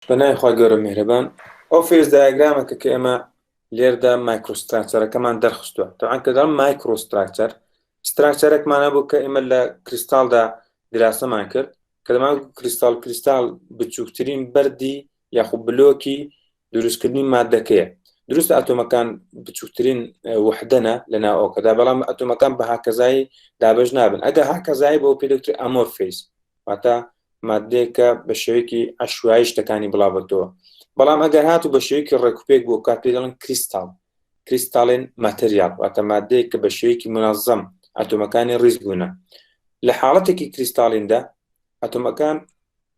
بەناوی خوای گەورە میهرەبان ئەو فێز دایگرامە کە کە ئێمە لێردا مایکرۆستراکچەرەکەمان دەرخستووە تەعان کە دەڵم مایکرۆستراکچەر ستراکچەرێکمانە بوو کە ئێمە لە کریستالدا دراسەمان کرد کە دەمان کریستال کریستال بچووکترین بەردی یاخو بلۆکی دروستکردنی مادەکەیە دروست ئاتۆمەکان بچووترین وحدەنە لە ناوەکەدا بەڵام ئەتۆمەکان بە هاکەزایی دابش نابن ئەگە هاکەزایی بۆ پێدکتر ئەمۆفیس واتە مادەیەکە بە شێوەیەکی ئەشوایی شتەکانی بڵاوەتەوە بەڵام ئەگەر هاتو بە شێوەیەکی ڕێکوپێک بۆ کات پێ دەڵن کریستال کریستالێن ماتریال واتە مادەیە کە بە شێوەیەکی منازەم ئەتۆمەکانی ڕیز بوونە لە حاڵەتێکی کریستالیندا ئەتۆمەکان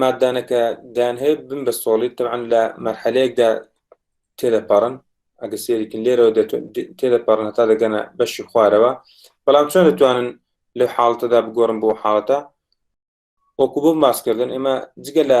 مادانەکە دان هەیە بن بە سۆڵی تەعاان لە مەرحەلەیەکدا تێدەپەڕن ئەگە سێریکن لێرەوە تێدەپەڕن هەتا دەگەنە بەشی خوارەوە بەڵام چۆن دەتوانن لە حاڵتەدا بگۆڕن بۆ حاڵەتە وەکو بۆ ماسکردن ئێمە جگە لە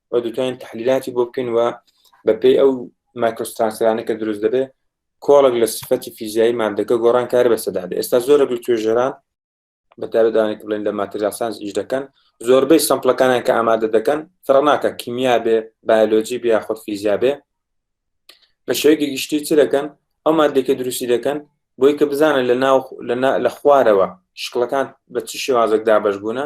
و دەتوانین تحلیلاتی بۆ بکەین و بەپێی ئەو مایکۆسترانسەرانە کە دروست دەبێت کۆڵک لە سفەتی فیزیایی مادەکە گۆڕان کار بەسەدا ئێستا زۆرە بە توێژەران بەتابدانێک بڵێن لە ماتریالسانس ئیش دەکەن زۆربەی سەمپلەکانیان کە ئامادە دەکەن فڕناکە کیمیا بێ بایلۆجی بیا خۆ فیزیا بێ بە شێوەیەکی گشتی چ دەکەن ئەو مادێکە دروستی دەکەن بۆی کە بزانن لە ناو لە خوارەوە شکڵەکان بە چ شێوازێک دابش بوونە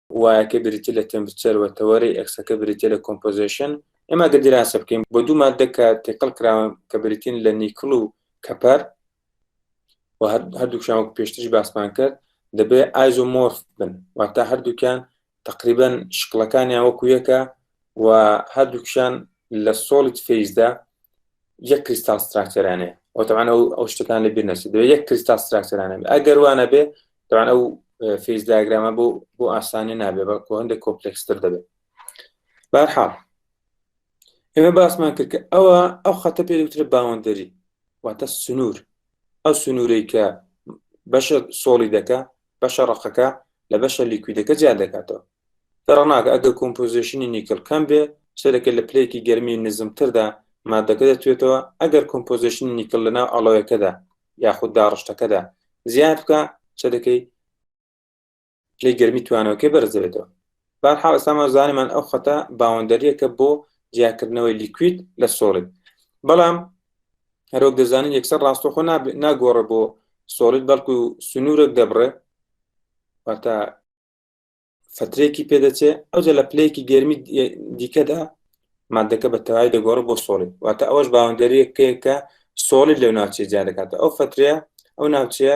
وایەکە بریتیە لە تێمپرچەر و تەوەرەی ئێکسەکە بریتیە لە کۆمپۆزێشن ئێمە گەر دیراسە بکەین بۆ دوو مادە کە تێکەڵ کراون کە بریتین لە نیکل و کەپەر و هەردووکیان وەک پێشتریش باسمان کرد دەبێت ئایزۆمۆرف بن واتە هەردووکیان تقریبان شکڵەکانیان وەکو یەکە و هەردووکیان لە سۆڵیت فیزدا یەک کریستال ستراکتەرانێ ئەو تەوان ئەو ئەو شتەکان لە بیر نەچێت دەوێت یەک کریستال ستراکتەرانە ئەگەر وانە بێ تەوان ئەو فیز داگرامە بۆ بۆ ئاسانی نابێ بەڵکو هەندێک کۆپلکستر دەبێت بارحاڵ ئێمە باسمان کرد کە ئەوە ئەو خەتە پێ دوترە باوەندەری واتە سنوور ئەو سنوورەی کە بەشە سۆڵی دەکە بەشە ڕقەکە لە بەشە لیکویدەکە جیان دەکاتەوە دەڕناکە ئەگە کۆمپۆزیشنی نیکل کەم بێ سەرەکە لە پلەیەکی گەرمی نزمتردا مادەکە دەتوێتەوە ئەگەر کۆمپۆزیشنی نیکل لەناو ئەڵۆیەکەدا یاخود داڕشتەکەدا زیاد بکە سەرەکەی پلەی گەرمی توانەوەکەی بەرز دەبێتەوە بارحاڵ ئێستامان زانیمان ئەو خەتە باوەندەریەکە بۆ جیاکردنەوەی لیکوید لە سۆڵید بەڵام هەرۆک دەزانین یەکسەر ڕاستەخۆ ناگۆڕە بۆ سۆڵید بەڵکو سنوورێک دەبڕێ واتە فترێکی پێدەچێ ئەوجە لە پلەیەکی گەرمی دیکەدا مادەکە بە تەواوی دەگۆڕ بۆ سۆڵی واتە ئەوەش باوەندەریەکەیەکە سۆڵی لەو ناوچێ جیا دەکاتە ئەو فترەیە ئەو ناوچەیە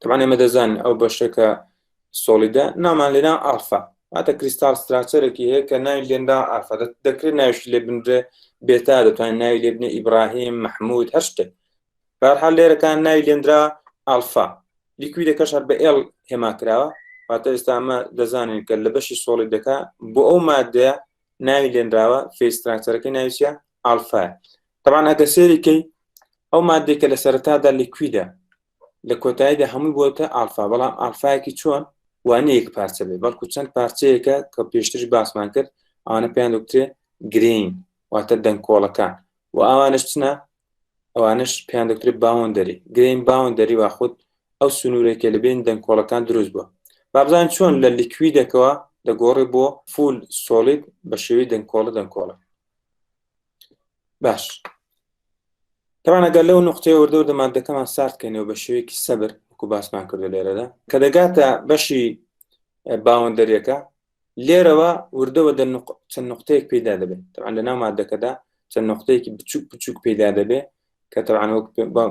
تەمان ئێمە دەزان ئەو بەشەکە سۆڵیدە نامان لێنا ئافا واتە کریستال ستراچەرێکی هەیە کە ناوی لێندا ئافا دەکرێت ناوش لێ بنرێ بێتا دەتوانین ناوی لێ بنێ ئیبراهیم مححمود هەشتێک بارحال لێرەکان ناوی لێندرا ئالفا لیکوی دەکەش هەر بە ئێل هێما کراوە واتە ئێستامە دەزانین کە لە بەشی سۆڵی دەکا بۆ ئەو مادەیە ناوی لێنراوە فێستراکتەرەکەی ناویە ئالفا تەبان ئەگە سێریکەی ئەو مادێک کە لە سەرتادا لیکویدە لە کۆتاییدا هەمووی بۆتە ئالفا بەڵام ئالفایەکی چۆن وانەیەک پارچە بێ بەڵکو چەند پارچەیەکە کە پێشتر باسمان کرد ئەوانە پێیان دکتێ گرین واتە دەنگکۆڵەکان و ئەوانش چنە ئەوانش پێیان دکتێ باون دەری گرین باون دەری وا خودت ئەو سنوورێکە لە بین دەنگکۆڵەکان دروست بووە بابزان چۆن لە لیکویدەکەەوە دەگۆڕی بۆ فول سۆڵید بە شێوی دەنگکۆڵە دەنگکۆڵە باش تەوانەگەر لەو نقطەیە وردەوردە مادەکەمان ساردکەینەوە بە شێوەیەکی سەبر وکو باسمان کردو لێرەدا کە دەگاتە بەشی باوەندەرەکە لێرەوە وردەوە دە چەند نقطەیەک پیدا دەبێت تەوان لە ناو مادەکەدا چەند نقطەیەکی بچوک بچوک پیدا دەبێت کە تەوان وەک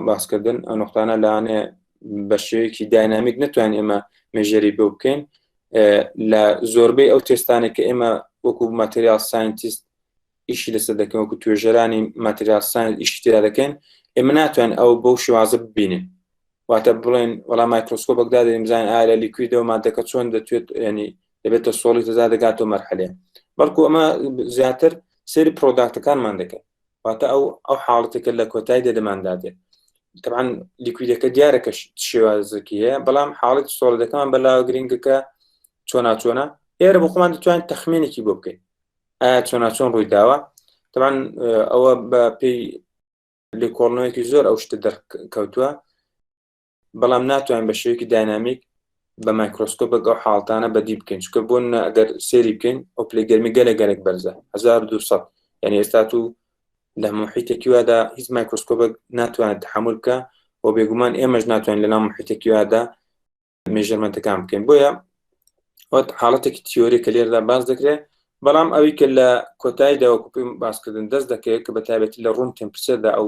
باسکردن ئەو نقطانە لاانێ بە شێوەیەکی داینامیک نتوان ئێمە مێژەری بۆ بکەین لە زۆربەی ئەو تێستانێک کە ئێمە وەکو ماتریال ساینتیست ئیشی لەسەر دەکەن وەکو توێژەرانی ماتریال ساین ئیشی تێدا دەکەن ئێمە ناتوان ئەو بەو شێوازە ببینین واتە بڵێن وەڵام مایکرۆسکۆ بەگدا دەیم زان ئالە لیکویدەوە مادەکە چۆن دەتوێت ینی دەبێتە سۆڵی تەزا دەگاتەوە مەرحەلێ بەڵکو ئەمە زیاتر سری پرۆداکتەکانمان دەکەن واتە ئەو ئەو حاڵەتەکە لە کۆتای دەدەماندا دێت تەعاان لیکویدەکە دیارە کە شێوازەکی هەیە بەڵام حاڵەت سۆڵەکەمان بەلاوە گرنگەکە چۆنا چۆنا ئێرە بۆ خۆمان دەتوان تەخمێنێکی بۆ بکەین ئایا چۆنا چۆن ڕووی داوە تەعاان ئەوە بە پێی لێکۆڵنەوەیەکی زۆر ئەو شتە دەرکەوتووە بەڵام ناتوانین بە شێوەیەکی داینامیک بە مایکرۆسکۆپێک ئەو حاڵتانە بەدی بکەین چکە بۆ ئەگەر سێری بکەین ئەو پلی گەرمی گەلە گەلێک بەرزە 1200 یعنی ئێستا و لە محیتێکی وادا هیچ مایکرۆسکۆپێک ناتوانێت تحمل بکە و بێگومان ئێمەش ناتوانین لە ناو محیتێکی وادا مێژەرمەنتەکان بکەین بۆیە وەت حاڵەتێکی تیۆری کە لێردا باز دەکرێت بەڵام ئەوی کە لە کۆتاییدا وەکوپیم باسکردن دەست دەکەوێت کە بە تابێتی لە ڕوون تەمپچەدا ئەو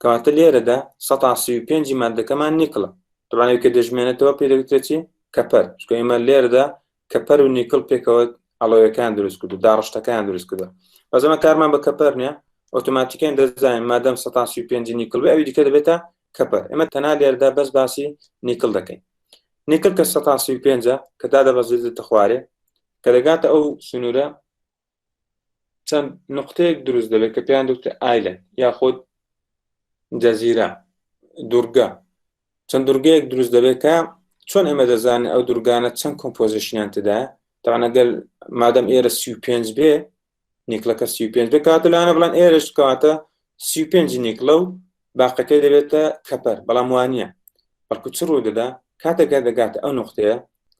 کەواتە لێرەدا سەتا سی و پێنجی ماددەکەمان نیکڵە دەبان ئەوکە دەژمێنێتەوە پێ دەوترێت چی کەپەر چکە ئێمە لێرەدا کەپەر و نیکڵ پێکەوە ئەڵۆیەکان دروست کردو داڕشتەکان دروست کردو بەزەمە کارمان بە کەپەر نیە ئۆتۆماتیکیان دەزانین مادەم سەتا سی و پێنجی نیکڵ بێ ئەوی دیکە دەبێتە کەپەر ئێمە تەنا لێرەدا بەس باسی نیکڵ دەکەین نیکل کە سە پێ کە تا دەبەزێتە خوارێ کە دەگاتە ئەو سنوورە چەند نقطەیەک دروست دەبێت کە پێیان دوترێت ئایلند یاخود جەزیرە دوورگە چەند دوورگەیەک دروست دەبێت کە چۆن ئێمە دەزانین ئەو دوورگانە چەند کۆمپۆزیشنیان تدا تاانەگەل مادەم ئێرە سی پێنج بێ نیکلەکە سی پێنج بێ کاتە لاەنە بڵان ئێرش کاتە سی پێنج نیکلە و باقەکەی دەبێتە کەپەر بەڵام وانە بەڵکو چ ڕوو دەدا کاتێکە دەگاتە ئەو نقطەیە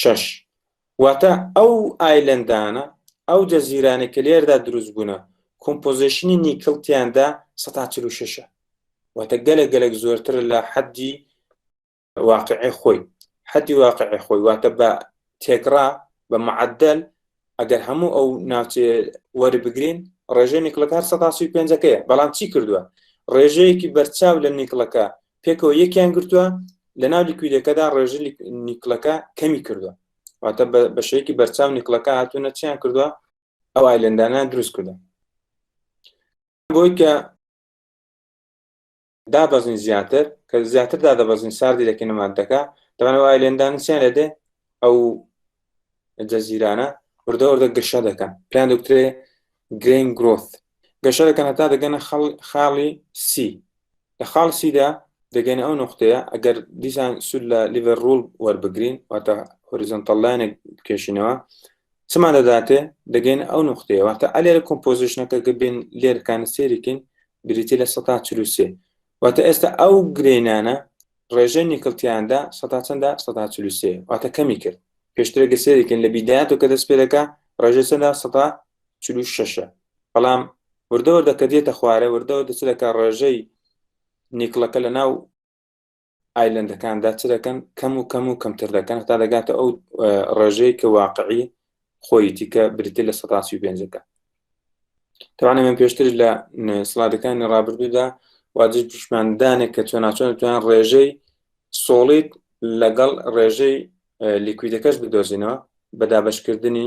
شەش، واتە ئەو ئایلەندانە، ئەو جەزیرانەی کە لێرەدا دروست بوونە، کۆمپۆزێشنی نیکڵ تیاندا سەد تا چل و شەشە، واتە گەلێک گەلێک زۆرترە لە حەدی واقعی خۆی، حەدی واقعی خۆی واتە بە تێکڕا بە معدل ئەگەر هەموو ئەو ناوچێ وەربگرین ڕێژەی نیکڵەکە هەر سەتاسی پێنجەکەیە بەڵام چی کردووە ڕێژەیەکی بەرچاو لە نیکڵەکە پێکەوە یەکیان گرتووە لە ناو لیکویدەکەدا ڕێژە نیکڵەکە کەمی کردووە واتە بەشەیەکی بەرچاو نیکڵەکە هاتوونە چیان کردووە ئەو ئایلندانە دروست کردە بۆی کە دابەزین زیاتر کە زیاتر دادەبەزین ساردی دەکەینە مادەکە دەمانە وای لێندانسیان لە دێ ئەو جەزیرانە وردە وردە گەشە دەکەن پلان دکترێ گرین گرۆث گەشە دەکەن هەتا دەگەنە خاڵی سی لە خاڵ سیدا دەگەنە ئەو نقطەیە ئەگەر دیسان سود لە لیڤەر ڕول وەربگرین واتە هۆریزۆنتەڵلایەنێک بکێشینەوە چما دەداتێ دەگەینە ئەو نقطەیە واتە ئەلێرە کۆمپۆزیشنەکە گەبین لێرکانە سێریکەین بریتی لە سەتا چلوسێ واتە ئێستا ئەو گرینانە ڕێژەی نیکلتیاندا سەتا چەندە سەتا چلوسێ واتە کەمی کرد پێشترێکە سێریکەین لە بیدایەت و کە دەست پێدەکە ڕێژە چەندە سەتا چلو شەشە بەڵام وردەوە دەکە دێتە خوارە وردەوە دەچ دەکە ڕێژەی نیکڵەکە لە ناو ئایلەندەکاندا چ دەکەن کەم و کەم و کەمتر دەکەن تا دەگاتە ئەو ڕێژەیە کە واقعی خۆیتی کە بریتی لە سەتاسی پێنجەکە توانێ من پێشتر لە سلادەکانی ڕابردوودا واجب پیشماندانێک کە چۆن ناچۆن توان ڕێژەی سۆڵیت لەگەڵ ڕێژەی لیکویدەکەش بدۆزینەوە بە دابشکردنی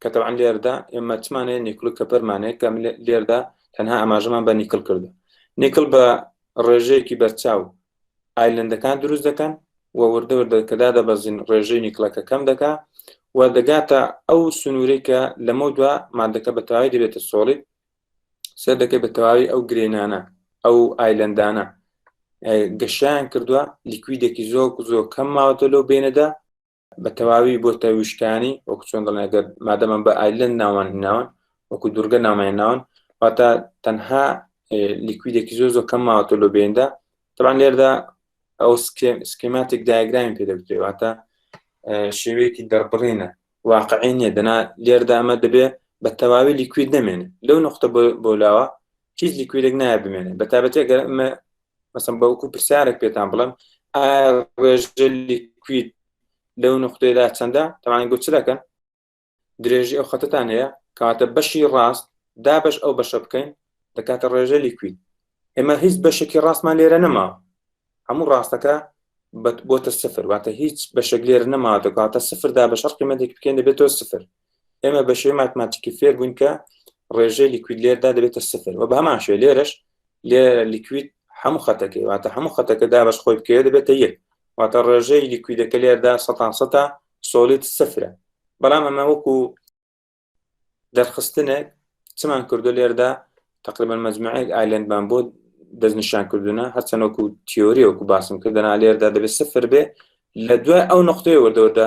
کە تەوان لێردا ئێمە چمان هەیە نیکل کە پەرمانەیە کە لێردا تەنها ئاماژەمان بە نیکل کردو نیکل بە ڕێژەیەکی بەرچاو ئایلندەکان دروست دەکەن و وردە وردە کەدا دەبەزین ڕێژەی نیکلەکە کەم دەکا و دەگاتە ئەو سنوورەی کە لەمە دوا مادەکە بە تەواوی دەبێتە سۆڵیت سەر دەکەی بە تەواوی ئەو گرێنانە ئەو ئایلندانە گەشیان کردووە لیکویدێکی زۆر زۆر کەم ماوەتە لەو بینەدا بە تەواوی بۆتە ویشکانی وەکو چۆن دەڵێن گەر مادەمان بە ئایلند ناوان هیناون وەکو دوورگە نامان ناون واتە تەنها لیکویدێکی زۆر زۆر کەم ماوەتە لۆ بێندا تەبان لێردا ئەو سکێماتێک دایگرامی پێدەبتێ واتە شێوەیەکی دەربڕینە واقعی نیە دەنا لێردا ئەمە دەبێ بە تەواوی لیکوید نامێنێ لەو نقطە بۆ لاوە هیچ لیکویدێک نایە بمێنێ بە تابەتێک گەر ئەمە مەسم بەوکو پرسیارێک پێتان بڵم ڕێژلی کویت لەو نقطەیەدا چەندە تەوان گوچ دەکەن درێژی ئەو خەتتان هەیە کاتە بەشی ڕاست دا بەش ئەو بەشە بکەین دەکاتە ڕێژە لیکوید ئێمە هیچ بەشێکی ڕاستمان لێرە نەما هەموو ڕاستەکە بۆتە سفر واتە هیچ بەشێک لێر نەما دەکاتە سفردا بە شەر قیمەتێک بکەین دەبێتەوە سفر ئێمە بەشێ ماتماتیکی فێر بووین کە ڕێژەی لیکوید لێردا دەبێتە سفر و بە هەمان شوێ لێرەش لێ لیکوید هەموو خەتەکەی واتە هەموو خەتەکە دابش خۆی بکەوێت دەبێتە یەک واتە ڕێژەی لیکویدەکە لێردا سە سە سۆلیت سفرە بەڵام ئەمە وەکو دەرخستنێک چمان کردو لێردا تقریبان مجموعەیەک ئایلندمان بۆ دەستنیشان کردوونە هەرچەنەوەکو تیۆری وەکو باسم کردنا لێردا دەبێت سفر بێ لە دوای ئەو نقطەی وەردەوەدا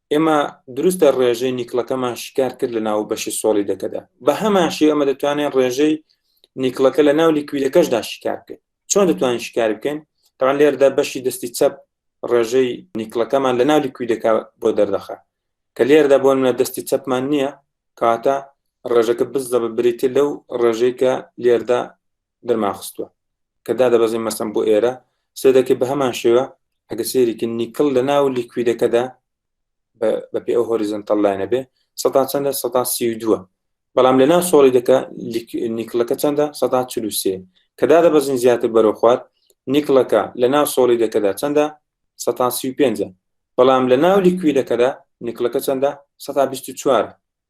ئێمە دروستە ڕێژەی نیکلەکەمان شیکار کرد لە ناو بەشی سۆڵی دەکەدا بە هەماشی ئەمە دەتوانێت ڕێژەی نیکلەکە لە ناو لیکویدەکەشدا شیکار بکەین چۆن دەتوانین شیکار بکەین تاوان لێردا بەشی دەستی چەپ ڕێژەی نیکلەکەمان لە ناو لیکویدەکە بۆ دەردەخە کە لێردا بۆن لە دەستی چەپمان نییە کاتە ڕێژەکە بزدە بە بریتە لەو ڕێژەی کە لێردا درمان خستووە کە دادەبەزین مەسم بۆ ئێرە سێ دەکەی بە هەمان شێوە ئەگە سێریکی نیکل لە ناو لیکویدەکەدا بە پێ ئەو هۆریزن تەڵلاینە بێ سە چەندە سە سی دووە بەڵام لە ناو سۆڵی دەکە نیکلەکە چەندە سە چلوسێ کە دادە بەزین زیاتر بەرەو خوار نیکلەکە لە ناو سۆڵی دەکەدا چەندە سە سی پێ بەڵام لە ناو لیکویدەکەدا نیکلەکە چەندە سە چوار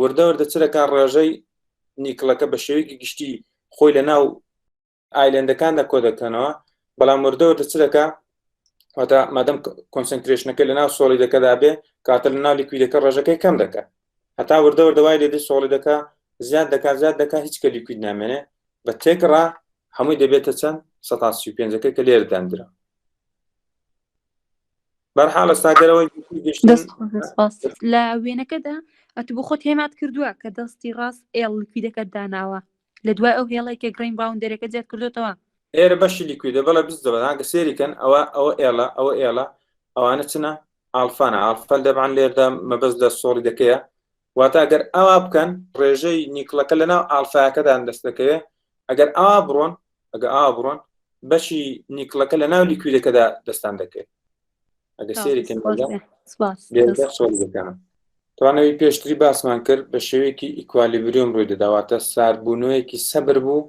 وردە وردە چ دەکات ڕێژەی نیکڵەکە بە شێوەیەکی گشتی خۆی لە ناو ئایلندەکاندا کۆ دەکەنەوە بەڵام وردە وردە چ دەکات واتا مادەم کۆنسنترێشنەکە لە ناو سۆڵی دەکەدا بێ کاتە لە ناو لیکویدەکە ڕێژەکەی کەم دەکات هەتا وردە وردەوای لێدە سۆڵی دەکات زیاد دەکات زیاد دەکات هیچ کە لیکوید نامێنێ بە تێکڕا هەمووی دەبێتە چەند 135ەکە کە لێر دەندرا لە وێنەکەدا ئەتو بۆ خۆت هێمات کردووە کە دەستی ڕاست ئێڵ لیکویدەکە داناوە لە دوای ئەو هێڵی کە گرین باوندەرەکە زیاد کردوتەوە ئێرە بەشی لیکویدە بەڵە بز دەبەناگە سێریکەن ئەوە ئەوە ئێڵە ئەوە ئێڵە ئەوانە چنە ئالفانە ئالفەل دەبان لێردا مەبەست لە سۆڵی دەکەیە واتە گەر ئاوا بکەن ڕێژەی نیکڵەکە لەناو ئالفاکەدان دەست دەکەوێت ئەگەر ئاوا بڕۆن ئەگە ئاوا بڕۆن بەشی نیکڵەکە لە ناو لیکویدەکەدا دەستان دەکەێت ئەگە سێریکەم توانەوەی پێشتری باسمان کرد بە شێوەیەکی ئیکوالیبریۆم ڕووی دەداواتە ساربوونەوەیەکی سەبر بوو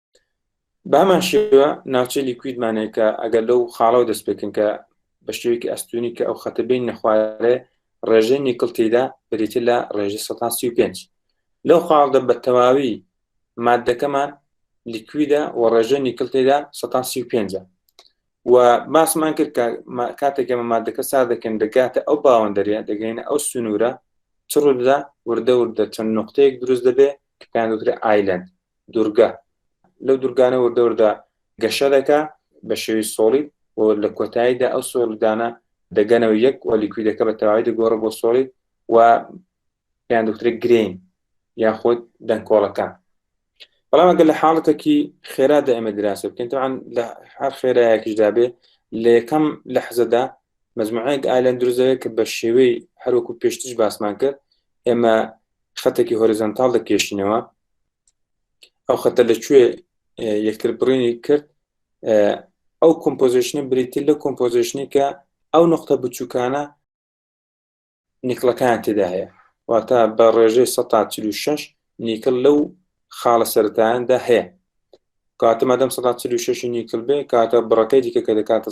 بامان شێوە ناوچەی لیکویدمانێک کە ئەگەر لەو خاڵەوە دەست پێکن کە بە شێوەیەکی ئەستونی کە ئەو خەتە بین نەخوارێ ڕێژەی نیکل تێدا بریتە لە ڕێژە 135 لەو خاڵدە بە تەواوی مادەکەمان لیکویدە و ڕێژە نیکل تێدا 135 و باسمان کرد کە کاتێک ئەمە مادەکە سا دەکەن دەگاتە ئەو باوەندەرە دەگەینە ئەو سنوورە چڕدا وردە وردە چەند نقطەیەک دروست دەبێ کە پێیان دوترێ ئایلند دورگە لەو دورگانە وردەوردا گەشە دەکا بە شێوی سۆڵی و لە کۆتاییدا ئەو سۆڵدانە دەگەنەوە یەک و لیکویدەکە بە تەواوی دەگۆڕە بۆ سۆڵی و پێیان دکتری گرین یاخود دەنکۆڵەکان بەڵام ئەگەر لە حاڵەتێکی خێرادا ئێمە دراسە بکەین تاوان لە هەر خێرایەکیشدا بێ لە یەکەم لە حەزەدا مەزمعەیەک ئالەن دروزەیە کە بە شێوەی هەروەکو پێشتش باسمان کرد ئێمە خەتێکی هۆریزانتال دەکێشینەوە ئەو خەتە لە کوێ یەکتر بڕینی کرد ئەو کۆمپۆزیشنە بریتی لە کۆمپۆزیشنی کە ئەو نقطە بچووکانە نیکلەکان تێدا هەیە واتە بە ڕێژەی 1946 نیکل لەو خاڵە سەرتایاندا هەیە کاتە مادەم 1946 نیکل بێ کاتە بڕەکەی دیکە کە دەکاتە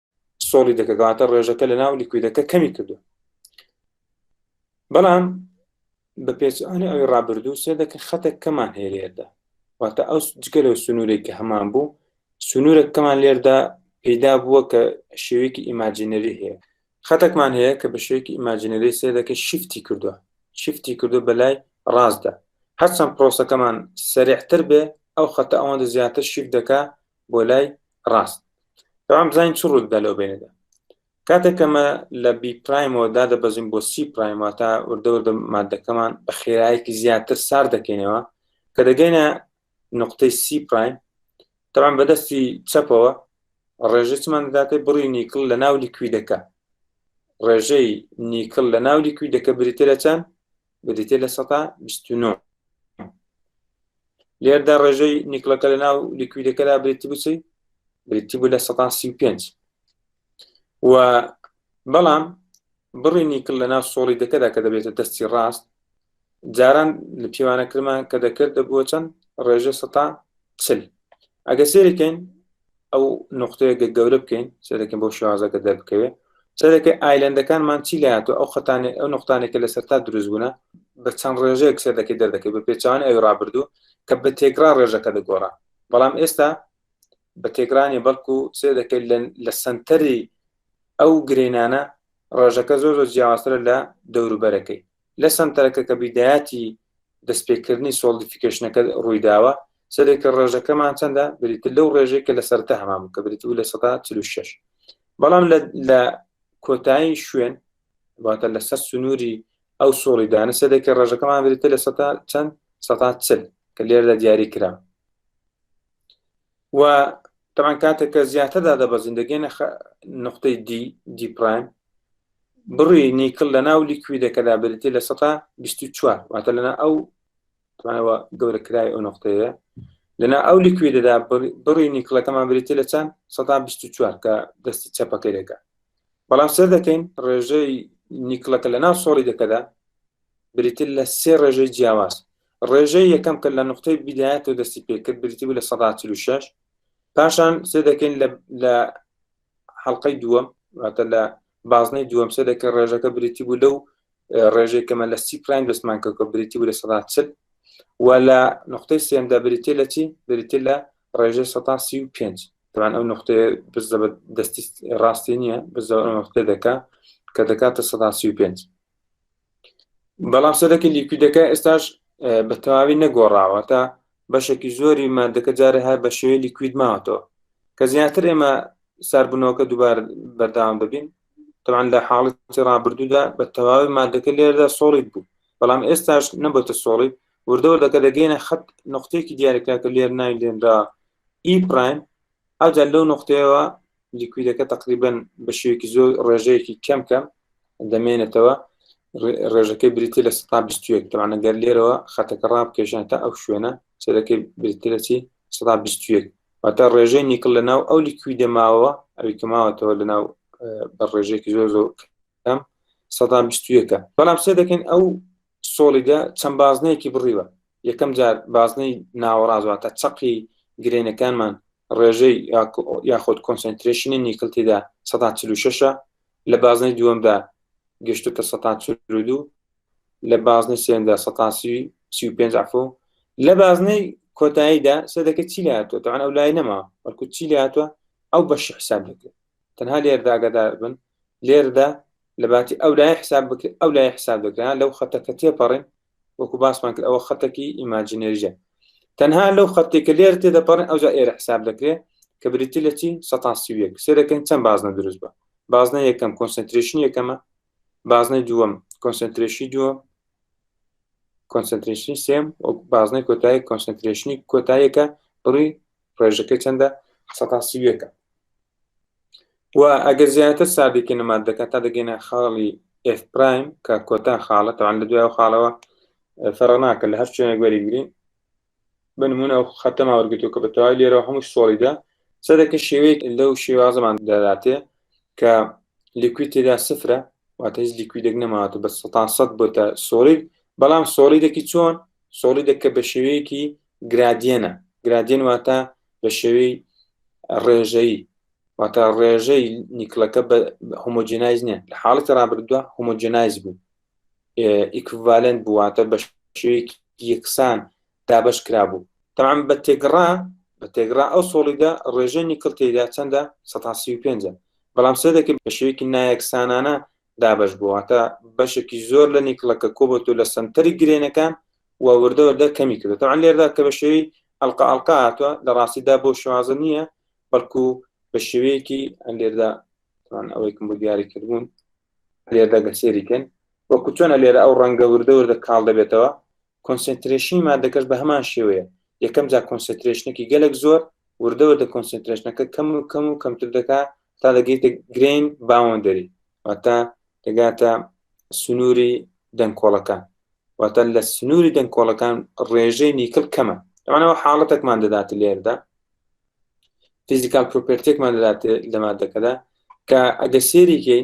سۆڵی دەکە گەواتە ڕێژەکە لە ناو لیکویدەکە کەمی کردو بەڵام بە پێچانی ئەوی ڕابردوو سێ دەکە خەتە کەمان هێرێدا واتە ئەو جگە لەو سنوورێک کە هەمان بوو سنوورە کەمان لێردا پێدا بووە کە شێوێکی ئیماجینەری هەیە خەتەکمان هەیە کە بە شێوێکی ئیماجینەری سێ دەکە شیفتی کردووە شیفتی کردو بە لای ڕاستدا هەرچەند پرۆسەکەمان سەرێحتر بێ ئەو خەتە ئەوەندە زیاتر شیف دەکە بۆ لای ڕاست تەوام بزانین چ ڕوودە لەو بینەدا کاتێک کەمە لە بی پرایمەوە دادەبەزین بۆ سی پرایم واتە وردەوردە مادەکەمان بە خێرایەکی زیاتر سار دەکەینەوە کە دەگەینە نقطەی سی پرایم تەوام بەدەستی چەپەوە ڕێژەی چمان دەداتێ بڕی نیکل لە ناو لیکویدەکە ڕێژەی نیکل لە ناو لیکویدەکە بریتە لە چەند بریتە لە سەتا بیست و نۆ لێردا ڕێژەی نیکلەکە لە ناو لیکویدەکەدا بریتی بچی بریتی بوو لە سەتا سی و پێنج و بەڵام بڕی نیکل لە ناو سۆڵی دەکەدا کە دەبێتە دەستی ڕاست جاران لە پێوانەکرمان کە دەکرد دەبووە چەند ڕێژە سەتا چل ئەگە سێرەکەین ئەو نقطەیەگە گەورە بکەین سێرەکەین بۆ شازەکە دەربکەوێت سەرەکە ئایلندەکانمان چی لاتو ئەو خەتانێ ئەو نقطانێکە لە سەرتا دروست بوونە بە چەند ڕێژەیەک سێدەکەی دەردەکەی بە پێچوان ئەوی ڕابردوو کە بە تێکرا ڕێژەکە دەگۆڕا بەڵام ئێستا بە تێکرانی بەڵکو سێ دەکەیت لە سنتەری ئەو گرینانە ڕێژەکە زۆر زۆر جیاوازترە لە دەوروبەرەکەی لە سەنتەرەکە کە بیدایەتی دەستپێکردنی سۆڵدیفیکەشنەکە ڕوویداوە سەرێکە ڕێژەکەمان چەندە بریتر لەو ڕێژەی کە لە سەرتا هەمان کە بریت و لە سە 46 بەڵام لە کۆتایی شوێن واتە لەسەر سنووری ئەو سۆڵی دانە سەرێکە ڕێژەکەمان بریتە لە سە چەند سە چل کە لێردا دیاری کرا و تەبان کاتێک کە زیاتر دادەبەزین دەگەینە نقطەی دی دی پرایم بڕی نیکل لە ناو لیکویدەکەدا بریتی لە سەتا 24 واتە لەنا ئەو توانەوە گەورەکرای ئەو نقطەیە لەنا ئەو لیکویدەدا بڕی نیکلەکەمان بریتی لە چەند سەتا 24 کە دەستی چەپەکەی دەکە بەڵام سەر دەکەین ڕێژەی نیکلەکە لە ناو سۆڵی دەکەدا بریتی لە سێ ڕێژەی جیاواز ڕێژەی یەکەم کە لە نقطەی بیدایەتەوە دەستی پێکرد بریتی بوو لە 16 پاشان سێ دەکەین لە حەڵلقەی دووەم واتە لە بازنەی دووەم سێ دەکە ڕێژەکە بریتی بوو لەو ڕێژەی کەمە لە سی پرایم دەستمان کە کە بریتی بوو لە 16 و لە نقطەی سێمدا بریتێ لە چی بریتێ لە ڕێژەی 135 تەوان ئەو نقطەیە بزە دەستی ڕاستی نییە بزە نقطێ دەکە کە دەکاتە 135 بەڵام سەرەکی لیکویدەکە ئێستاش بە تەواوی نەگۆڕاوە تا بەشێکی زۆری مادەکە جارە هەر بە شێوەی لیکوید ماوەتەوە کە زیاتر ئێمە ساربوونەوەکە دووبار بەرداوام دەبین تەوان لە حاڵەتی ڕابردوودا بە تەواوی مادەکە لێردا سۆڵیت بوو بەڵام ئێستاش نەبێتە سۆڵیت وردەوە دەکە دەگەینە خەت نقطەیەکی دیارەکە کە لێر ناوی لێنرا ئی پرایم ئەوجا لەو نقطەیەوە لیکویدەکە تقریبا بە شێوەیەکی زۆر ڕێژەیەکی کەم کەم دەمێنێتەوە ڕێژەکەی بریتی لە 121 تەوانە گەر لێرەوە خەتەکە ڕابکێشان تا ئەو شوێنە چێرەکەی بریتی لە چی 121 واتە ڕێژەی نیکل لە ناو ئەو لیکویدە ماوە ئەوی کەماوەتەوە لە ناو بە ڕێژێکی زۆر زۆر ئەم سەدان بیست و یەکە بەڵام سێ دەکەین ئەو سۆڵیدە چەند بازنەیەکی بڕیوە یەکەم جار بازنەی ناوەڕازواتە چەقی گرێنەکانمان ڕێژەی یاخود کۆنسنترێشنی نیکل تێدا سەدا چل و شەشە لە بازنەی دووەمدا گەشتو کە سەتا چرودو لە بازنەی سێندا سەتاسی سی و پێنج عفو لە بازنەی کۆتاییدا سێ دەکە چی لاتوە تەوان ئەو لای نەما وەکو چی لاتوە ئەو بەشی حساب دەکرێت تەنها لێرە داگادار بن لێرەدا لە باتی ئەو لای حساب بکرێت ئەو لای حساب دەکران لەو خەتەکە تێپەڕین وەکو باسمان کرد ئەوە خەتەکی ئیماجینێریە تەنها لەو خەتی کە لێر تێدەپەڕێن ئەوجا ئێرە حساب دەکرێت کە بریتی لە چی سەتان سیویەک سێرەکەین چەند بازنە دروست بە بازنە یەکەم کۆنسنتریشن یەکەمە بازنەی دووەم کۆنسنتریشی دووەم کۆنسنتریشنی سێم بازنەی کۆتایی کۆنسنتریشنی کۆتاییەکە بڕی ڕێژەکەی چەندە حسە تا سیوێکە و ئەگەر زیاتر سادێکی نەمات دەکات تا دەگەینە خاڵی ئف پرایم کە کۆتا خاڵە تاوان لە دوای خاڵەوە فەرە ناکە لە هەر شوێنێک وەریگرین بنمونە ئەو خەتەما وەرگتو کە بەتەوای لێرە هەموو سۆڵیدا سەدەکە شێوەیەک لەو شێوازەمان دەداتێ کە لیکوی تێدا سفرە واتە هیچ لیکویدێک نەماواتە بە سەتان سەد بۆتە سۆڵید بەڵام سۆڵیدەکی چۆن سۆڵیدەکە بە شێوەیەکی گرادیەنە، گرادیەن واتە بە شێوەی ڕێژەیی واتە ڕێژەی نیکلەکە بە هۆمۆجینایز نیە لە حاڵەتی ڕابردووە هۆمۆجینایز بوو ئیکڤالنت بوواتە بە شێوەیەکی یەکسان دابش کرا بوو تەعام بە تێگڕا بە تێگڕا ئەو سۆڵیدا ڕێژەی نیکل تێدا چەندە 135 بەڵام سێ دەکرد بە شێوەیەکی نایەکسانانە دابەش بووە واتە بەشێکی زۆر لە نیکڵەکە کۆبەت و لە سنتەری گرێنەکان و وردە وردە کەمی کردو تاوان لێردا کە بە شێوی ئەلقا ئەلقا هاتووە لە ڕاستیدا بۆ شوازە نییە بەڵکو بە شێوەیەکی لێردا ئەوەیکم بۆ دیاری کردبوون لێردا گەسێریکەن وەکو چۆنە لێرە ئەو ڕەنگە وردە وردە کاڵ دەبێتەوە کۆنسێنترێشنی مادەکەش بە هەمان شێوەیە، یەکەم جا کۆنسێنترێشنەکی گەلەک زۆر وردە وردە کۆنسێنترێشنەکە کەم و کەم و کەمتر دەکا تا دەگەیتە گرەین باوەندەری واتە دەگاتە سنووری دەنکۆڵەکان واتە لە سنووری دەنکۆڵەکان ڕێژەی نیکل کەمە ئەمانەوە حاڵەتێکمان دەداتە لێردا فیزیکال پرۆپێرتێکمان دەداتێ لە مادەکەدا کە ئەگە سێریکەی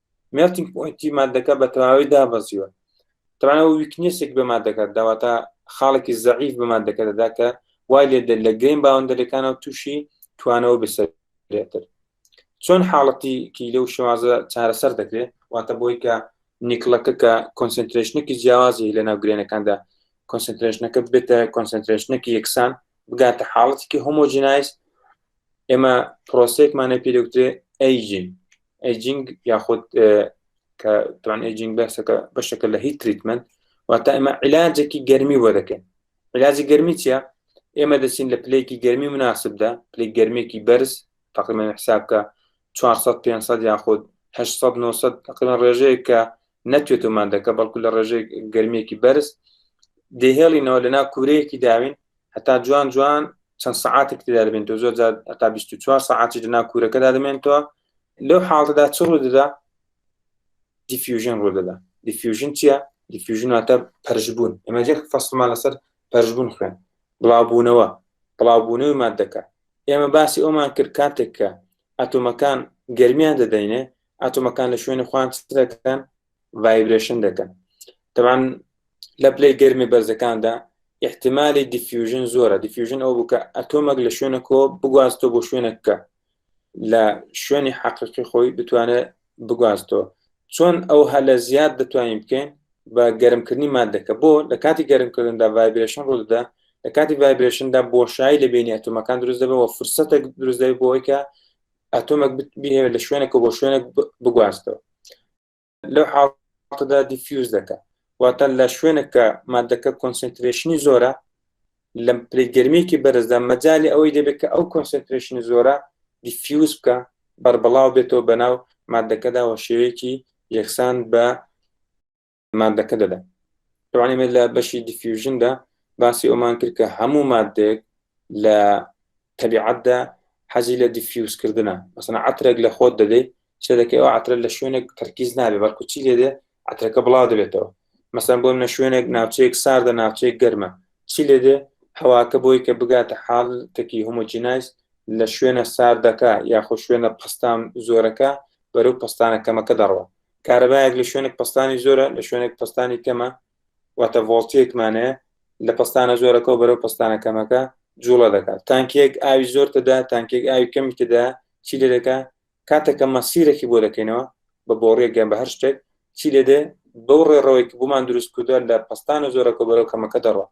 مێڵتینگ پۆینتی مادەکە بە تەواوی دابەزیوە تەوانەوە ویکنێسێک بە مادەکە داواتە خاڵێکی زەعیف بە مادەکە دەدا کە وای لێ دەر لە گەیم باوەندەرەکانەوە تووشی توانەوە بسەرێتر چۆن حاڵەتی کی لەو شێوازە چارەسەر دەکرێت واتە بۆی کە نیکڵەکە کە کۆنسنترێشنێکی جیاوازی لە ناو گرێنەکاندا کۆنسنترێشنەکە بێتە کۆنسنترێشنێکی یەکسان بگاتە حاڵەتێکی هۆمۆجینایز ئێمە پرۆسێکمانە پێدەوترێ ئەیجین ئەیجینگ یاخود کە توان ئەیجینگ بەسەکە بەشەکە لە هیچ تریتمنت واتە ئێمە علاجێکی گەرمی بۆ دەکەین علاجی گەرمی چیە ئێمە دەچین لە پلەیەکی گەرمی مناسبدا پلی گەرمێکی بەرز تقریمە حسابکە 400 500 یاخود 1900 تقریبا ڕێژەیە کە نەتوێت و مادەکە بەڵکو لە ڕێژەی گەرمێکی بەرز دێهێڵینەوە لە ناو کورەیەکی داوین هەتا جوان جوان چەند سعاتێک تێدا دەبێن تۆ زۆر هەتا 24 ساعتی لە ناو کورەکەدا دەمێنەوە لەو حاڵتەدا چ ڕوو دەدا دیفیوژن ڕوو دەدا دیفیوژن چییە دیفیوژناتە پەرژبوون ئەمە جێ فەسلمان لەسەر پەرژبوون خوێن بڵاوبوونەوە بڵاوبوونەوەی مادەکە ئێمە باسی ئەومان کرد کاتێک کە ئەتۆمەکان گەرمیان دەدەینێ ئەتۆمەکان لە شوێنی خوان دەکەن ڤایبرێشن دەکەن تەوان لە پلەی گەرمی بەرزەکاندا احتمالی دیفیوژن زۆرە دیفیوژن ئەو بکە ئەتۆمەک لە شوێنە کۆ بگوازتۆ بۆ شوێنە بکە لە شوێنی حەقیقی خۆی بتوانێت بگوازێتەوە چۆن ئەو هەلە زیاد دەتوانین بکەین بە گەرمکردنی مادەکە بۆ لە کاتی گەرمکردندا ڤایبرشن ڕوودا لە کاتی ڤایبرشندا بۆشایی لە بینی ئەتومەکان دروست دەبەوە فرسەتە دروست دەبێت بۆی کە ئەتۆمەک بهێوێت لە شوێنێکە بۆ شوێنێک بگوازتەوە لەو حاڵتەدا دیفیوز دەکە واتە لە شوێنێکە مادەکە کۆنسنترێشنی زۆرە لە پلەی گەرمیەکی بەرزدا مەجالی ئەوەی دەبێت کە ئەو کۆنسنترێشنی زۆرە دیفیوز بکە بەربڵاو بێتەوە بەناو مادەکەدا وە شێوەیەکی یەکسان بە مادەکە دەدا توانێت لە بەشی دیفیوژندا باسی ئەومان کرد کە هەموو مادێک لە تەبیعەتدا حەزی لە دیفیوزکردنە، مەسەلەن عەترێک لە خۆت دەدەیت چێ دەکەی ئەو عەترە لە شوێنێک تەرکیز نابێت بەڵکو چی لێ دێ عەترەکە بڵاو دەبێتەوە مەسەلەن بۆ منە شوێنێک ناوچەیەک ساردە ناوچەیەک گەرمە چی لێ دێ هەواکە بۆی کە بگاتە حاڵتێکی هۆمۆجینایز لە شوێنە ساردەکە یاخۆ شوێنە پستان زۆرەکە بەرەو پستانە کەمەکە دەڕوە کارەبایەک لە شوێنێک پستانی زۆرە لە شوێنێک پستانی کەمە واتە ڤۆڵتیەک مانەیە لە پستانە زۆرەکەەوە بەرەو پستانە کەمەکە جوڵە دەکات تانکێک ئاوی زۆر تدا تانکێک ئاوی کەمی تدا چی لێ دەکە کاتێکە مەسیرەکی بۆ دەکەینەوە بە بۆڕێکگەن بە هەر شتێک چی لێ دێ بەو ڕێڕەوەی کە بۆمان دروست کردووە لە پستانە زۆرەکە بەرەو کەمەکە دەڕوە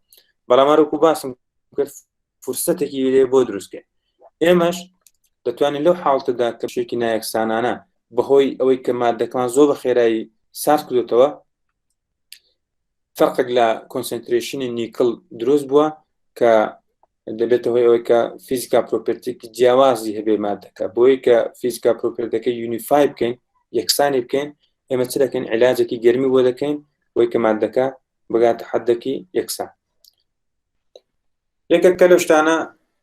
بەڵامارۆکو باسم کرد فرسەتێکی لێ بۆ دروستکەین ئێمەش دەتوانین لەو حاڵتەدا کەشێکی نایەکسانانە بەهۆی ئەوەی کە مادەکان زۆر بە خێرایی سارد کردوتەوە فەرقێک لە کۆنسنترێشنی نیکل دروست بووە کە دەبێتە هۆی ئەوەی کە فیزیکا پرۆپرتێکی جیاوازی هەبێ مادەکە بۆی کە فیزیکا پرۆپرتەکە یونیفای بکەین یەکسانی بکەین ئێمە چ دەکەین علاجێکی گەرمی بۆ دەکەین بۆی کە مادەکە بگاتە حدەکی یەکسان یەکێک کە لە شتانە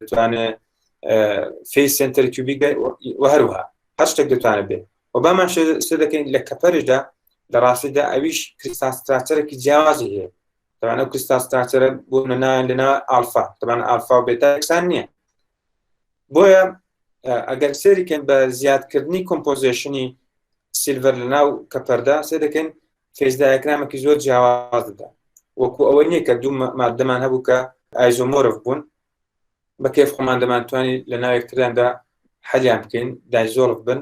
دەتوانێ فیس سنتەر کیوبی هەروها هەر شتێک دەتوانێت بێت و بامان شێ دەکەین لە کەپەرشدا لە ڕاستیدا ئەویش کریستاستراچەرەی جیاوازی هەیە تەوان ئەو کریستاستراچەرە بۆ نەنایان لەنا ئالفا تەبان ئالفا و بێتاکسان نییە بۆیە ئەگەر سێریکەن بە زیادکردنی کۆمپۆزیشنی سیلڤەر لە ناو کەپەردا سێ دەکەین کەش دایکرامێکی زۆر جیاوازدا وەکو ئەوە نییە کە دوو مادەمان هەبوو کە ئایزۆمۆرف بوون بە کێف خۆمان دەمانتوانی لە ناوێکتراندا حەلیان بکەین دایزۆرف بن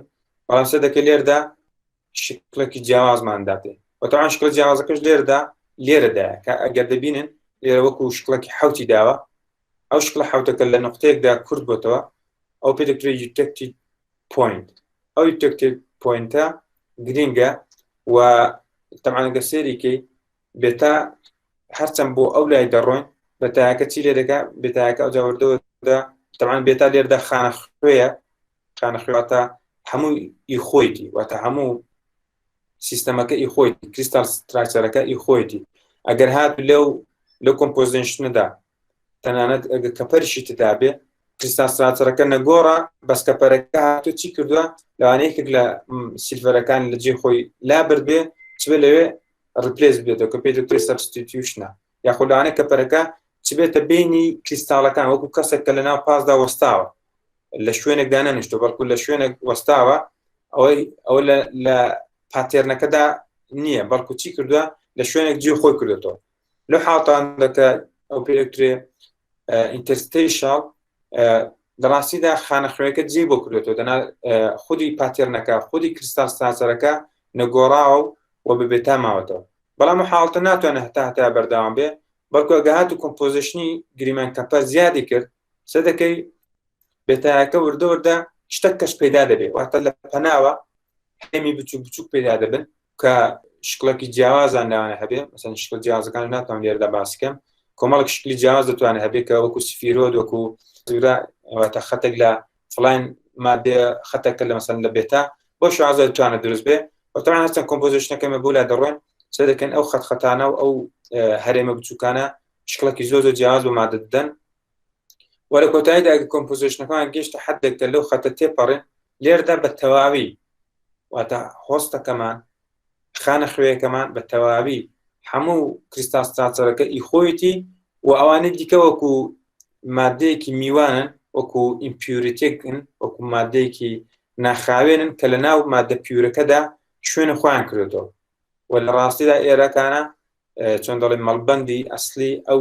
بەڵام سە دەکە لێردا شکلێکی جیاوازمان داتێ وەتەوان شکل جیاوازەکەش لێردا لێرەدا کە ئەگەر دەبینن لێرە وەکو شکڵێکی حوتی داوە ئەو شکڵە حەوتەکە لە نوقتەیەکدا کورت بۆتەوە ئەو پێ دەکرێت یوتەکتی پوینت ئەو یوتەکتی پوینتە گرینگە و تەمانگە سێریکەی بێتا هەرچەند بۆ ئەو لای دەڕۆین بە تاکە چی لێ دەکە بێتاکە ئەو جاوردەوە تەمان بێتا لێردا خانە خوێە خانە خوێواتە هەموو ئی خۆیتی واتە هەموو سیستەمەکە ئی خۆی کریستال ستراکچەرەکە ئی خۆیتی ئەگەر هات لەو لە کۆمپۆزنشندا تەنانەت ئەگە کەپەرشی تدابێ کریستال ستراکچەرەکە نەگۆڕە بەس کەپەرەکە هاتو چی کردووە لەوانەیەکێک لە سیلڤەرەکان لە جێ خۆی لا بردبێ چ لەوێ ڕپلس بێتەوە کە پێ دکتۆری سەبستیتیوشنە یاخود لەوانەیە کەپەرەکە چبێتە بینی کریستاڵەکان وەکو کەسێک کە لەناو پاسدا وەستاوە لە شوێنێکدا نەنیشتۆ بەڵکو لە شوێنێک وەستاوە ئەوەی ئەو لە پاتێرنەکەدا نییە بەڵکو چی کردووە لە شوێنێک جێ خۆی کردێتەوە لە حاڵتان دەکە ئەو پێکترێ ئینتەرستەیشاڵ لە ڕاستیدا خانەخوێکە جێ بۆ کردێتەوە دەنا خودی پاتێرنەکە خودی کرستال سناسەرەکە نەگۆڕاوە و بە بێتا ماوەتەوە بەڵام حاڵتە ناتوانە هەتا هەتا بەرداوام بێ بەڵکو گەهات و کۆمپۆزیشنی گریمان کەپە زیادی کرد سە دەکەی بێتایەکە وردە وردە شتە کەش پێدا دەبێت واتە لە پەناوە هەمی بچوک بچوک پێدا دەبن کە شکڵێکی جیاوازان لەوانە هەبێ مەسەن شکل جیازەکان ناتوان لێردا باسکەم کۆمەڵک شکلی جیاز دەتوانێت هەبێت کە وەکو سفیرۆ وەکو زوراتە خەتێک لە فلان مادێ خەتەکە لە مەسەن لە بێتا بۆ شازە توانە دروست بێ وتوان هەستن کۆمپۆزیشنەکەمە بۆ لا دەڕۆن سێ دەکەن ئەو خەتخەتانە و ئەو هەرێمە بچووکانە شکڵێکی زۆ زۆ جیاز و مادە دەدەن وەلە کۆتاییدا ئەگە کۆمپۆزیشنەکان گەشتە حدێک کە لەو خەتە تێپەڕێن لێردا بە تەواوی واتە هۆستەکەمان خانە خوێەکەمان بە تەواوی هەموو کریستاس تاچەرەکە ئی خۆیەتی و ئەوانە دیکە وەکو مادەیەکی میوانن وەکو ئیمپیورتێکن وەکو مادەیەکی ناخاوێنن کە لە ناو مادە پیورەکەدا شوێنە خۆیان کردێتەوە و لە ڕاستیدا ئێرەکانە چۆن دەڵێ مەڵبندی ئەسلی ئەو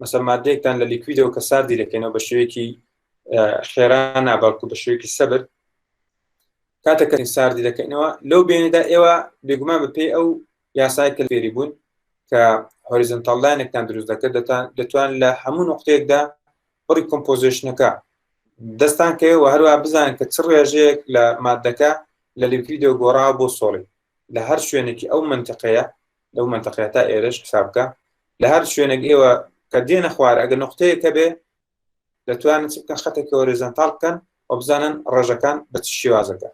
مەسەر مادەیەکتان لە لیکویدەوە کە ساردی دەکەنەوە بە شێوەیەکی خێرا ناباکو بە شێوەیەکی سەبر کاتەکە ساردی دەکەنەوە لەو بینێدا ئێوە بێگومان بە پێی ئەو یاسای کە فێری بوون کە هۆریزنتاڵدانێکتان دروست دەکرد دەتان دەتوان لە هەموو نقطەیەکدا بڕی کۆمپۆزیشنەکە دەستان کەوێەوە هەروە بزانن کە چ ڕێژەیەک لە مادەکە لە لیکویدۆ گۆڕا بۆ سۆڵی لە هەر شوێنێکی ئەو منتەقەیە لەو منتەقەیە تا ئێرەش حساب بکە لە هەر شوێنێک ئێوە کە دێنە خوارە ئەگە نقطەیە کە بێ دەتوانن چ بکەن خەتێکی هۆریزانتال بکەن و بزانن ڕێژەکان بە چ شێوازەکە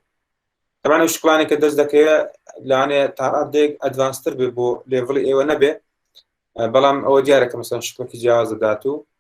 ئەمانە شکلانی کە دەست دەکەوێت لەوانێ تاڕادێک ئەدوانستر بێ بۆ لێڤڵی ئێوە نەبێ بەڵام ئەوە دیارە کە مەسەن شکڵکی جیاواز دەدات و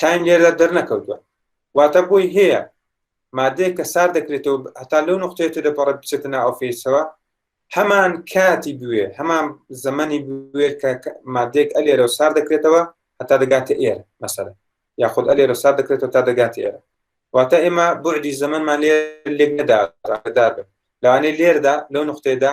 تایم لێردا دەرنەکەوتوە واتە بۆی هەیە مادەیە کە سار دەکرێتەوە هەتا لەو نقطێتە دەپەڕێت بچێتە نا ئۆفیسەوە هەمان کاتی بوێ هەمان زەمەنی بوێ کە مادێک ئەلێرە و سار دەکرێتەوە هەتا دەگاتە ئێر مەسەر یاخود ئەلێرە سار دەکرێتەوە تا دەگات ئێرە واتە ئێمە بۆدی زەمەمان لێ لێک نەدادار بن لەوانەیە لێردا لەو نقطێدا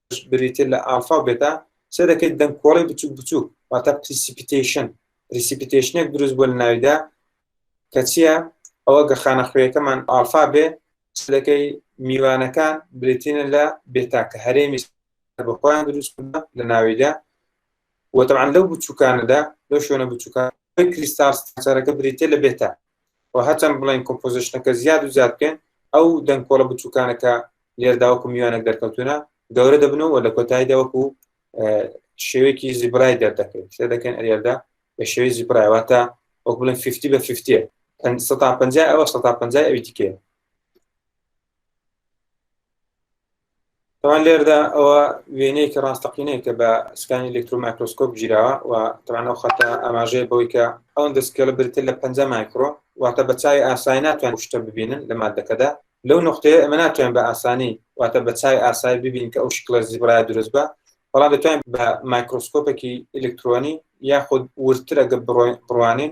بریتیە لە ئالفا و بێتا، سەیر دەکەیت دەنگکۆڵی بچوک بچوک واتە پریسیپیتەیشن، پریسیپیتەیشنێک دروست بوە لە ناویدا کە چیە ئەوە گە خانە خوێیەکەمان ئالفا بێ سەیر دەکەی میوانەکان بریتینە لە بێتا کە هەرێمی بە خۆیان دروست بوە لە ناویدا وە تەبعا لەو بچوکانەدا لەو شوێنە بچوکان کریستاڵ ستراکچەرەکە بریتیە لە بێتا و هەرچەند بڵێین کۆمپۆزیشنەکە زیاد و زیاد بکەین ئەو دەنکۆڵە بچووکانە کە لێردا وەکو میوانێک دەرکەوتونە گەورە دەبن و لە کۆتاییدا وەکو شێوەیەکی زیبرای دەردەکەین شتێ دەکەین ئەریێدا بە شێوەی زیبرایواتە وەک بڵێن 50 بە 50 ئەوە 150 ئەوی دیکەیە تاوان لێردا ئەوە وێنەیەکی ڕاستەقینەیە کە بە سکانی ئەلکترومایکرۆسکۆپ گیراوە و تەوانەوە خەتە ئاماژەیە بەوەی کە ئەوەن دەستکێڵە برتر لە پەنج مایکرۆ واتە بە چای ئاسایی ناتوان شتە ببینن لە مادەکەدا لەو نقطەیە ئەمە ناتوان بە ئاسانی واتە بە چای ئاسایی ببین کە ئەو شکڵە زیبرای دروست بە بەڵام دەتوانین بە مایکرۆسکۆپێکی ئەلکترۆنی یاخود ورترە گە بڕوانین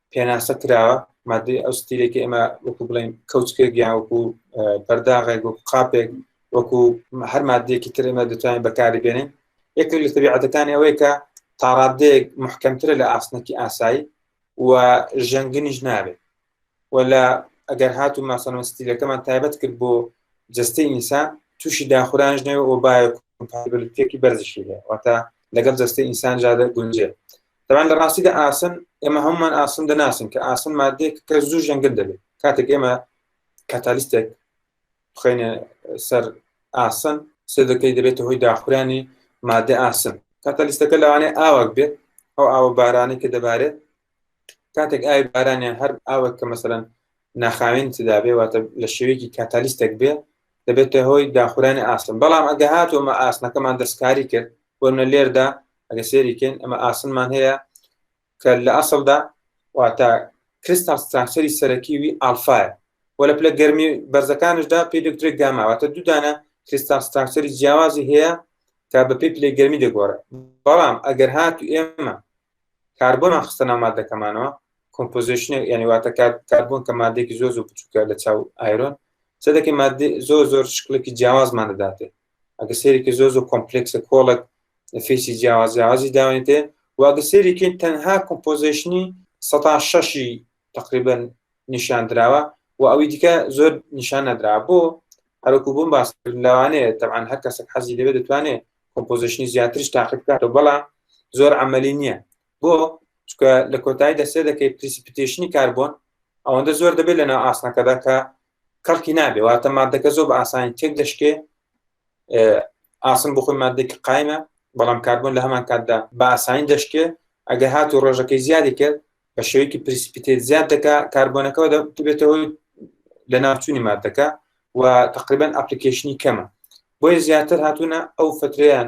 پێناسە کراوە مادەی ئەو ستیلێکی ئێمە وەکو بڵێن کەوچکێک یان وەکو پەرداغێک وەکو قاپێک وەکو هەر مادەیەکی تر ئێمە دەتوانین بەکاری بێنین یەکێک لە تەبیعەتەکانی ئەوەیە کە تاڕادەیەک محکەمترە لە ئاسنەکی ئاسایی و ژەنگنیش نابێت و لە ئەگەر هات و ماسەەوە ستیلەکەمان تایبەت کرد بۆ جستەی ئینسان تووشی داخورانش نەوە ئۆبایەکێکی بەرزشی هەیە واتە لەگەڵ جستەی ئینسان جادە گونجێ بەڵام لە ڕاستیدا ئاسن ئێمە هەمومان ئاسن دەناسن کە ئاسن مادێک کە زوو ژەنگن دەبێت کاتێک ئێمە کاتالیستێک بخینە سەر ئاسن سێ دەکەی دەبێتە هۆی داخورانی مادە ئاسن کاتالیستەکە لەوانێ ئاوەک بێت ئەو ئاوە بارانی کە دەبارێت کاتێک ئاوی بارانیان هەر ئاوە کە مەسەرەن ناخاوێن تدا بێ واتە لە شێوەیەکی کاتالیستێک بێ دەبێتە هۆی داخورانی ئاسن بەڵام ئەگە هاتوومە ئاسنەکەمان دەستکاری کرد وەنە لێردا ئەگە سێریکەین ئەمە ئاسنمان هەیە کە لە ئەسڵدا واتە کریستال ستراکچەری سەرەکیوی ئالفاە و لە پلە گەرمی بەرزەکانشدا پێی دکتێک گاماواتە دوودانە کریستال ستراکچەری جیاوازی هەیە کە بە پێی پلەی گەرمی دەگۆڕێ بەڵام ئەگەر هات و ئێمە کاربۆنان خستە ناو مادەکەمانەوە کۆمپۆزیشنە یعنی واتە کات کاربوون کە مادێکی زۆر زۆر بچووکە لە چاو ئایرۆن چ دەکەی مادی زۆر زۆر شکلێکی جیاوازمان دەداتێ ئەگە سێرێکی زۆر زۆر کۆمپلکسە کۆڵێک فێسی جیاواز جیاوازی داوێتێ واگە سێرێکین تەنها کۆمپۆزیشنی سەتا شەشی تقریبن نیشان دراوە و ئەوی دیکە زۆر نیشان نەدرا بۆ هەرکو بووم باس لەوانەیە تەعاان هەر کەسێک حەزی لەوێ دەتوانێت کۆمپۆزیشنی زیاترش تاقی بکاتەوە بەڵام زۆر ئەمەلی نییە بۆ چکە لە کۆتایی دەسێ دەکەی پرسیپتێشنی کاربوون ئەوەندە زۆر دەبێت لەنا ئاسنەکەدا کە کەڵکی نابێ واتە مادەکە زۆر بە ئاسانی تێک دەشکێ ئاسن بۆ خۆی مادێکی قایمە بەڵام کاربوون لە هەمان کاتدا بە ئاسانی دەشکێ ئەگە هات و ڕۆژەکەی زیادی کرد بە شێوەیەکی پرسپیتێت زیاد دەکا کاربوونەکەەوە دەبێتەوەی لە ناوچوونی مادەکە و تقریبان ئەپلیکیشنی کەمە بۆیە زیاتر هاتوونە ئەو فتریان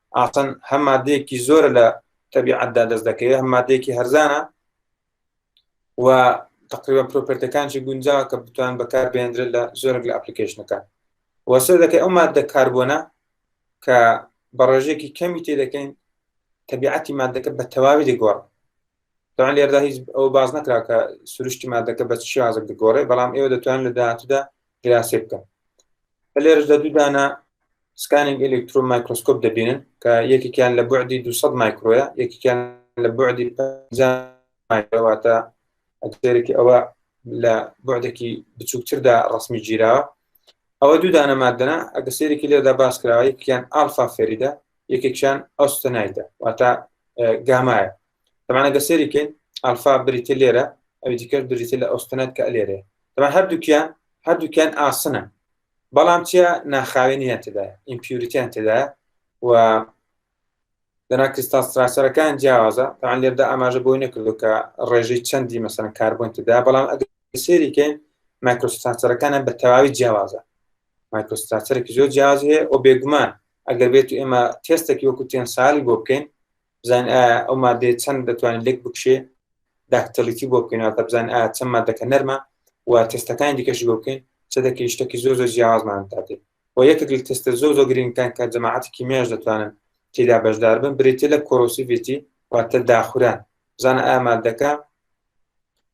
ئاسن هەم مادەیەکی زۆرە لە تەبیعەتدا دەست دەکەوێت هەم مادەیەکی هەرزانە و تقریبا پرۆپرتەکانشی گونجاوە کە بتوان بەکار بێندرێت لە زۆرێک لە ئەپلیکیشنەکان وەسەر دەکەی ئەو مادە کاربوونە کە بە ڕێژێکی کەمی تێ دەکەین تەبیعەتی مادەکە بە تەواوی دەگۆڕ تاان لێردا هیچ ئەو باز نەکرا کە سروشتی مادەکە بە شازک دەگۆڕێ بەڵام ئێوە دەتوان لە داهاتوودا گراسێ بکە لێرش لە دوودانە سکانینگ ئەلکترۆ مایکرۆسکۆپ دەبینن کە یەکێکیان لە بعدی 200 مایکرۆە یەکێکیان لە بعدی مایکرۆواتە ئەکسێرێکی ئەوە لە بعدێکی بچووکتردا ڕسمی گیراوە ئەوە دوو دانە مادەنا ئەگە سێرێکی لێدا باس کراوە یەکیان ئالفا فێریدا یەکێکیان ئەوستەنایدا واتە گامایە تەمانە گەسێریکەین ئەلفا بریتە لێرە ئەوی دیکەش بریتە لە ئۆستنەت کە لێرێ تەما هەردووکیان هەردووکیان ئاسنە بەڵام چیە ناخاوێنیان تدا ئیمپیوریتیان تدا و دەنا کریستال ستراسەرەکان جیاوازە تاان لێردا ئاماژە بۆی نەکردو کە ڕێژەی چەندی مەسەن کاربوون تدا بەڵام ئەگە سێریکەین مایکرۆستاسەرەکانە بە تەواوی جیاوازە مایکرۆستاسەرێکی زۆر جیاز هەیە و بێگومان ئەگەر بێت ئێمە تێستێکی وەکو تێن سالی بۆ بکەین بزان ئەو مادەیە چەند دەتوانین لێک بکشێ داکتەلیتی بۆ بکەینەوە بزان ئا چەند مادەکە نەرمە و تستەکانی دیکەش بۆ بکەین چە دەکەین شتێکی زۆر زۆر جیاوازمان تاتێ و یەکێک لە تستە زۆر زۆر گرنگکان کە جەماعەتی کیمیاش دەتوانن تێدا بەشدار بن بریتە لە کۆرۆسیڤێتی واتە داخوران بزانە ئامادەکە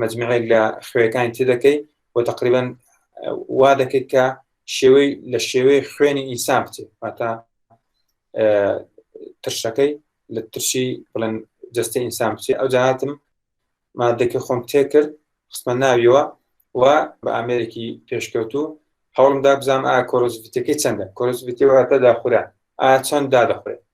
مجمعێک لە خوێەکانی تێدەکەی و تقریبان وا دەکەیت کە شێوەی لە شێوەی خوێنی ئینسان بچێت واتا ترشەکەی لە ترشی بڵێن جستە ئینسان بچێت ئەو جاهاتم مادەکە خۆم تێ کرد خستمە ناویەوە و بە ئامێرێکی پێشکەوتوو هەوڵمدا بزانام ئا کۆرۆزیتەکەی چەندە کۆرۆزیتەوەتە داخورا ئا چەند دادەخورێت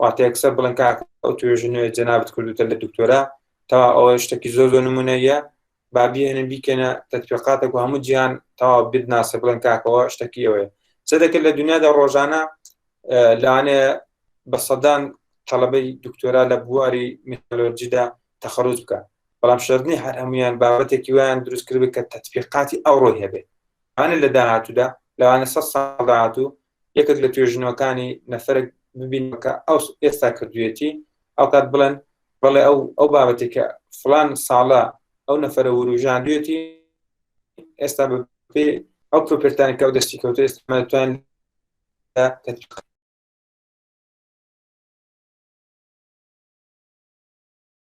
واتە یەکسەر بڵێن کاکە ئەو توێژە نوێ جەنابت کردوتە لە دکتۆرا تەوا ئەوە شتێکی زۆر زۆر نمونەیە با بێنە بیکەنە تەتوێقاتێک و هەموو جیان تەوا بت ناسە بڵێن کاکەوە شتەکی ئەوەیە چ دەکرد لە دنیادا ڕۆژانە لەوانەیە بە سەدان تەڵەبەی دکتۆرا لە بواری میتۆلۆجیدا تەخەرج بکە بەڵام شردنی هەر هەمویان بابەتێکی ویان دروست کرد کە تەتبیقاتی ئەوڕۆی هەبێت ئەە لە داهاتوودا لەوانە سە ساڵ داهاتوو یەکێک لە توێژینەوەکانی نەفەرێک ببینەوە کە ئەو ئێستا کردوێتی ئەوکات بڵێن بەڵێ ئەو ئەو بابەتی کە فلان ساڵە ئەو نەفرە وروژاندوێتی ئێستا بە پێ ئەو پرۆپرتانی کە ئەو دەستی کەوتە ئێستامان